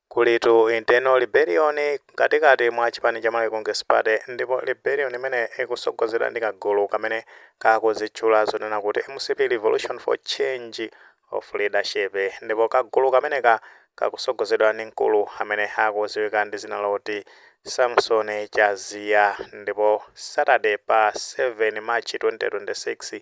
Kulitu internal rebellion mkatikati mwa chipani cha Malawi Congress Party ndipo rebellion imeneyi ikusogozedwa ndi kagulu kamene kakuzitchula zonena kuti mcp Revolution for Change of Leadership ndipo kagulu kameneka kakusogozedwa ndi mkulu amene akuziwika ndi zina loti Samson Chaziya ndipo Saturday pa 7 March 2026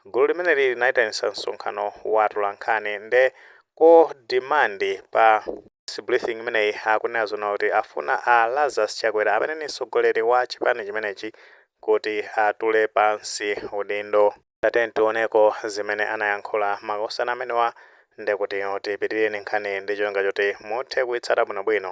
gulu limeneli linaitanisa msonkhano wa atolankhani nde ko demand pa press briefing imeneyi akunena zoona kuti afuna a Lazarus Chakwera amene ndi mtsogoleri wa chipani chimenechi kuti atule pansi udindo. Tatiyeni tioneko zimene anayankhula makosana amenewa ndekuti tipitirire ndi nkhaniyi ndi cholinga choti muthe kuitsata bwinobwino.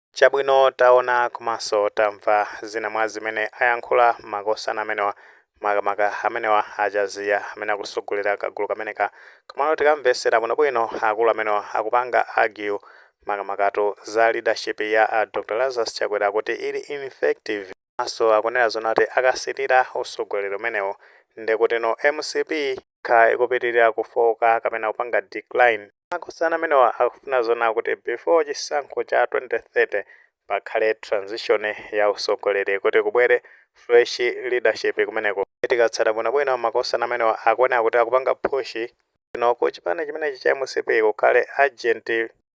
Chabwino, taona komanso tamva zina mwa zimene ayankhula makosana amenewa, makamaka amenewa a Chaziya amene akusogolera kagulu kameneka. Komano tikamvetsera bwinobwino akulu amenewa akupanga argue makamakatu za leadership ya a Dr Lazarus Chakwera kuti ili ineffective komanso akunena zoona kuti akapitilira usogoleri umenewu ndekutino mcp, kha ikupitirira kufooka kapena kupanga decline. Makosana amenewa akufuna zoona kuti before chisankho cha 2030 pakhale transition ya usogoleri kuti kubwere fresh leadership kumeneko. Tikatsata bwinobwino makosana amenewa akuoneka kuti akupanga push ino ku chipani chimenechi cha mcp kukhale urgent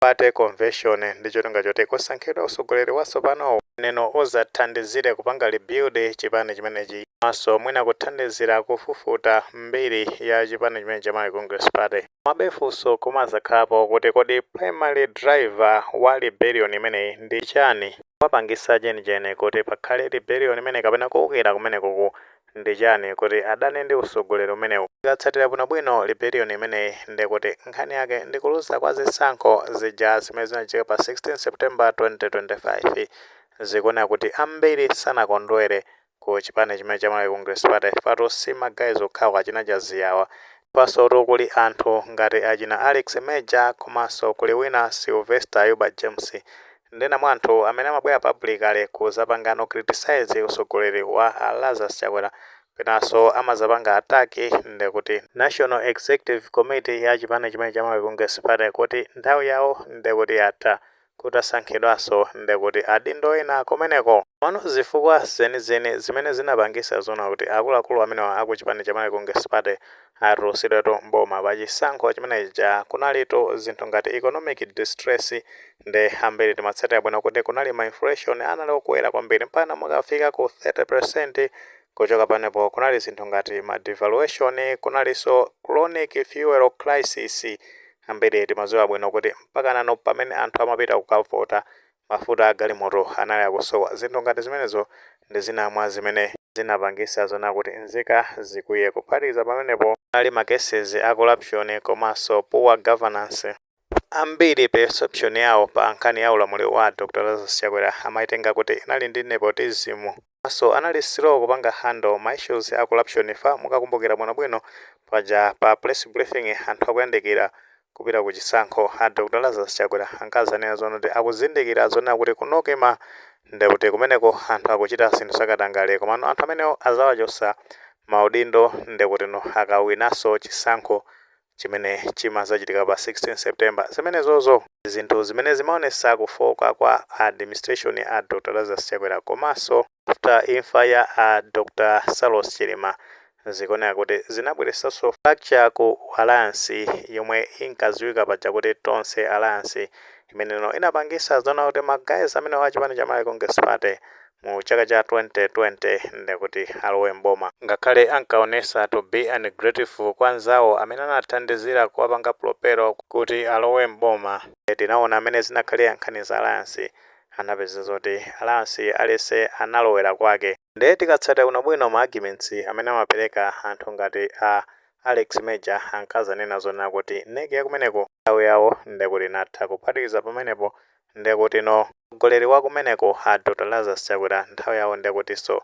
Party Convention ndi cholinga choti kusankhidwa usogoleri watsopano ndeno uzathandizire kupanga rebuild chipani chimenechi komanso mwina kuthandizira kufufuta mbiri ya chipani chimenechi cha Malawi Congress Party. Komabe funso kumazakhalapo kuti kodi primary driver wa rebellion imeneyi ndi chani? Chimapangitsa cheni cheni kuti pakhale rebellion imeneyi kapena kuukira kumenekuku ndi chani kuti adane ndi usogoleri umenewu? Tikatsatira bwino bwino rebellion imeneyi nde kuti nkhani yake ndi kuluza kwa zisankho zija zimene zinachitika pa 16 September 2025. Zikuoneka kuti ambiri sanakondwere ku chipani chimene cha Malawi Congress Party chifukwa-tu si ma guys okhawo achina Chaziya awa. Apanso-tu kuli anthu ngati achina Alex Major komanso kuli wina Sylvester Ayuba James. Nde ena mwa anthu amene amabwera publicly kuzapangano criticise usogoleri wa a Lazarus Chakwera kenaso amazapanga attack ndekuti National Executive Committee ya chipani chimene cha Malawi Congress Party kuti nthawi yawo ndekuti yatha kutasankhidwaso ndekuti adindo ena kumeneko. Komano zifukwa zenizeni zimene zinapangisa zoona kuti akuluakulu amenewa aku chipani cha Malawi Congress Party atulusidwetu m'boma pachisankho chimenechija kunalitu zinthu ngati economic distress Nde ambiri timatsatira bwino kuti kunali ma inflation anali okwera kwambiri mpakana kukafika ku 30%, kuchoka panepo kunali zinthu ngati ma devaluation, kunalinso chronic fuel crisis, ambiri timadziwa bwino kuti mpakanano pamene anthu amapita kukavota mafuta a galimoto anali akusowa, zinthu ngati zimenezo ndi zina mwa zimene zinapangisa zonena kuti nzika zikwiye, kuphatikiza pamenepo kunali ma cases a corruption komanso poor governance. Ambiri perception yawo pa nkhani ya ulamuliro wa Dr Lazarus Chakwera amaitenga kuti inali ndi nepotism komanso anali slow kupanga handle ma issues a corruption chifukwa mukakumbukira bwinobwino paja pa press briefing anthu akuyandikira kupita ku chisankho a Dr Lazarus Chakwera ankazanena zonena kuti akuzindikira zonena kuti ku Nocma ndekuti kumeneko anthu akuchita zinthu zakatangale komano anthu amenewo azawachotsa maudindo ndekutino akawinanso chisankho chimene chimadzachitika pa 16 September zimenezozo zinthu zimene zimaonesa kufooka kwa administration ya Dr Lazarus Chakwera komanso after imfa ya a Dr Saulos Chilima zikuoneka kuti zinabweresanso fracture ku alliance yomwe inkaziwika paja kuti Tonse Alliance imeneyo inapangisa zonena kuti ma guys amenewa a chipani cha Malawi Congress Party mu chaka cha 2020 nde kuti alowe m'boma. Ngakhale ankaonesa to be ungrateful kwa anzawo amene anathandizira kuwapanga propel kuti alowe m'boma, nde tinaona mene zinakhalira nkhani za alliance anapezeka zoti alliance aliyese analowera kwake nde tikatsatira bwino bwino ma arguments amene amapereka anthu ngati a Alex Major ankazanena zonena kuti nec yakumeneko nthawi yawo nde kuti inatha kuphatikiza pamenepo Ndekutino mtsogoleri wakumeneko a Dr Lazarus Chakwera nthawi yawo ndekutiso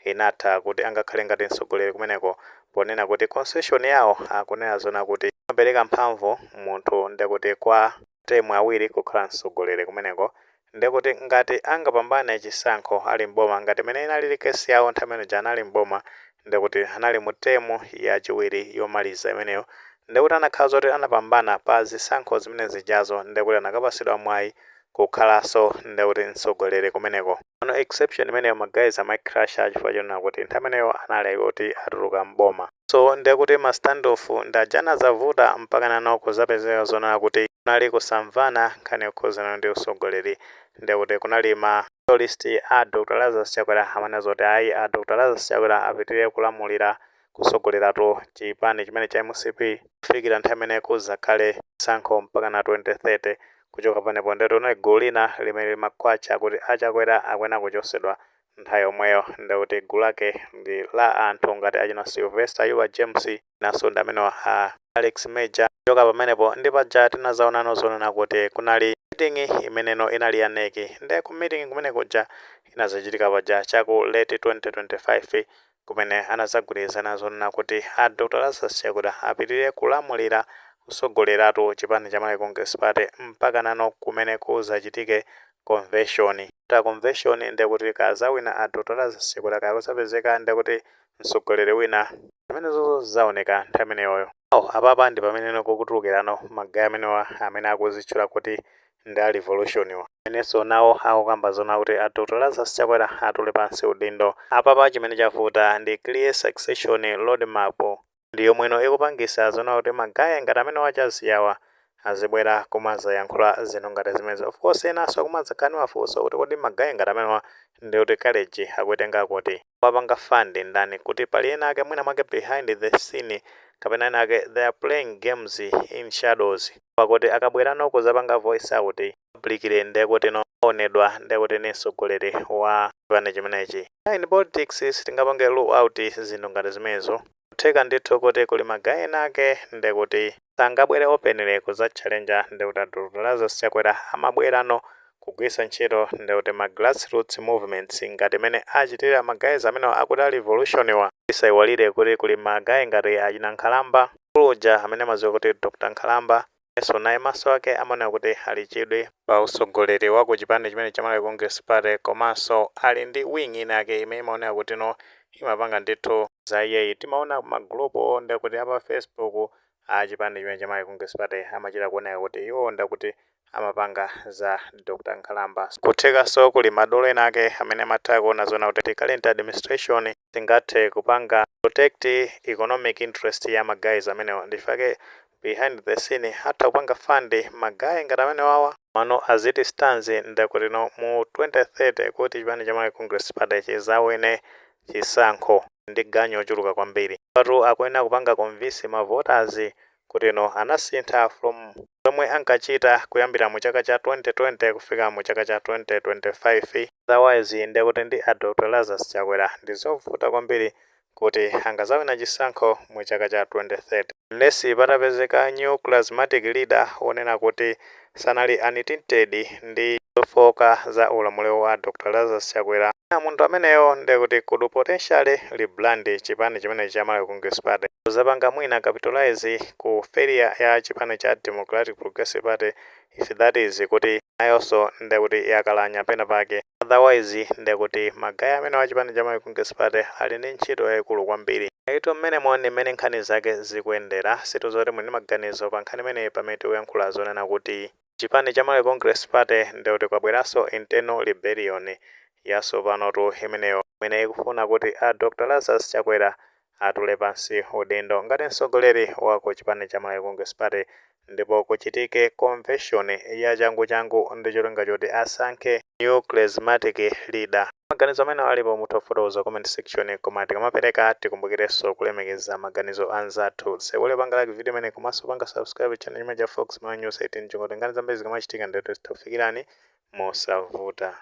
inatha kuti angakhale ngati mtsogoleri kumeneko ponena kuti constitution yawo akunena zonena kuti imapeleka mphamvu munthu ndekuti kwa term awiri kukhala mtsogoleri kumeneko ndekuti ngati angapambane chisankho ali m'boma ngati mene inalili case yawo nthawi imene uja anali m'boma ndi kuti anali mu term yachiwiri yomaliza imeneyo, ndi kuti akanakhala zoti anapambana pa zisankho zimene zijazo, ndi kuti anakapatsidwa mwayi kukhalanso ndi kuti mtsogoleri kumeneko. Pano exception imeneyo ma guys amaicrusha chifukwa chonena kuti nthawi imeneyo anali oti atuluka m'boma. So ndi kuti ma standoff ndi aja anadzavuta mpakanano kudzapezeka zonena kuti kunali kusamvana nkhani yokhuzana ndi utsogoleri ndi kuti kunali ma. Loyalist A Dr Lazarus Chakwera Amanena Zoti Ayi A Dr Lazarus Chakwera Apitilire Kulamulira, Kutsogoleratu, Chipani Chimene Cha mcp, Kufikira Nthawi Imene Kudzakhale Chisankho Mpakana 2030, Kuchoka Panepo Nde Kuti Kunali Gulu Lina Limene Limakhwatcha Kuti A Chakwera Akuyenera Kuchosedwa Nthawi Yomweyo Ndekuti Gulu Lake Ndi La Anthu Ngati Achina Sylvester Ayuba James, Nanso ndi amenewa a Alex Major. Kuchoka pamenepo ndi paja tinazaonano zonena kuti kunali meeting imeneno inali ya NEC. Nde ku meeting kumene kuja inazachitika paja cha ku late 2025 kumene anazagwirizana zonena kuti a Dr Lazarus Chakwera apitilire kulamulira, kusogoleratu chipani cha Malawi Congress Party mpakanano kumene kuzachitike konveshoni. After konveshoni ndekuti kaya azawina a Dr Lazarus Chakwera kaya kuzapezeka ndekuti mtsogoleri wina zimenezozo zizaoneka nthawi imeneyoyo ayi apapa ndi pamene kukutulukirano magayi amenewa amene akuzitchula kuti ndi a revolutionwa amenenso nawo akukamba zona kuti a dr lazarus chakwera atule pansi udindo apapa chimene chavuta ndi clear succession roadmap ndi yomweno ikupangisa zona kuti ma guy ngati amenewa a jazzy awa azibwera kumazayankhula zinthu ngati zimenezi of course enanso akumazakhala ndi mafunso kuti kodi ma guy ngati amenewa ndikuti courage akuitenga kuti? akuwapanga fund ndani kuti pali ena ake mwina mwake behind the scene kapena ena ake they are playing games in shadows poti akabwerano kuzapanga voice out publicly ndiye kutino aonedwa ndiye kuti ndi mtsogoleri wa chipani chimenechi in politics sitingapange rule out zinthu ngati zimenezo kutheka ndithu kuti kuli magayi ena ake ndiye kuti sangabwere openly kudzatchalenja ndiye kuti a dr lazarus chakwera amabwerano kugwiritsa ntchito ndiye kuti ma grassroots movements ngati mmene achitira magayizi amenewa akuti a revolution wa tisaiwalire kuti kuli magayi ngati achina nkhalamba kuluja amene amadziwa kuti dr nkhalamba Nayenso naye maso ake amaoneka kuti ali chidwi pa utsogoleri wa ku chipani chimenechi cha Malawi Congress Party komanso ali ndi wing ina yake imene imaoneka kutino imapanga ndithu za iyeyi. Timaona ma group wo ndekuti a pa Facebook a chipani chimenechi cha Malawi Congress Party amachita kuoneka kuti iwowo ndekuti amapanga za Dr. Nkhalamba. N'kuthekanso kuli madolo ena ake amene amatha kuona zona kuti the current administration singathe kupanga protect economic interest ya ma guys amenewa. Ndichifukwa chake Behind the scene atha kupanga fund ma guy ngati amenewawa. Komano as it stands ndekutino mu 2030 kuti chipani cha Malawi Congress Party chizawine chisankho ndi ganyu yochuluka kwambiri. Apatu akuyenera kupanga convince ma voters kutino anasintha from zomwe ankachita kuyambira mu chaka cha 2020 kufika mu chaka cha 2025. Otherwise ndekuti ndi a Doctor Lazarus Chakwera ndizovuta kwambiri kuti angazawina chisankho mu chaka cha 2030 unless patapezeka new charismatic leader onena kuti sanali anatintedwa ndi zofooka za ulamuliro wa Dr Lazarus Chakwera, mwina munthu ameneyo ndekuti could potentially rebrand chipani chimenechi cha Malawi Congress Party kuzapanga mwina capitalize ku failure ya chipani cha Democratic Progressive Party if that is kuti nayonso ndekuti yakalakwa pena pake otherwise ndekuti ma guys amenewa a chipani cha Malawi Congress Party ali ndi ntchito yaikulu kwambiri. Ayitu mmenemo ndi mmene nkhani zake zikuyendera. Sitidziwa kuti muli ndi maganizo pa nkhani imeneyi pamene tikuyankhula zonena kuti chipani cha Malawi Congress Party ndekuti kwabweranso internal rebellion yatsopanotu imeneyo imene ikufuna kuti a Dr Lazarus Chakwera atule pansi udindo ngati mtsogoleri wa chipani cha Malawi Congress Party ndipo kuchitike convention ya changu changu ndi cholinga choti asankhe new charismatic leader. Maganizo amene alipo mutha kufotokoza comment section koma tikamapereka tikumbukirenso kulemekeza maganizo anzathu. Osaiwala kupanga like video imeneyi komanso kupanga subscribe channel chimenechi cha Fox Malawi News 18 cholinga choti nkhani zambiri zikamachitika ndiye tizitha kukufikirani mosavuta.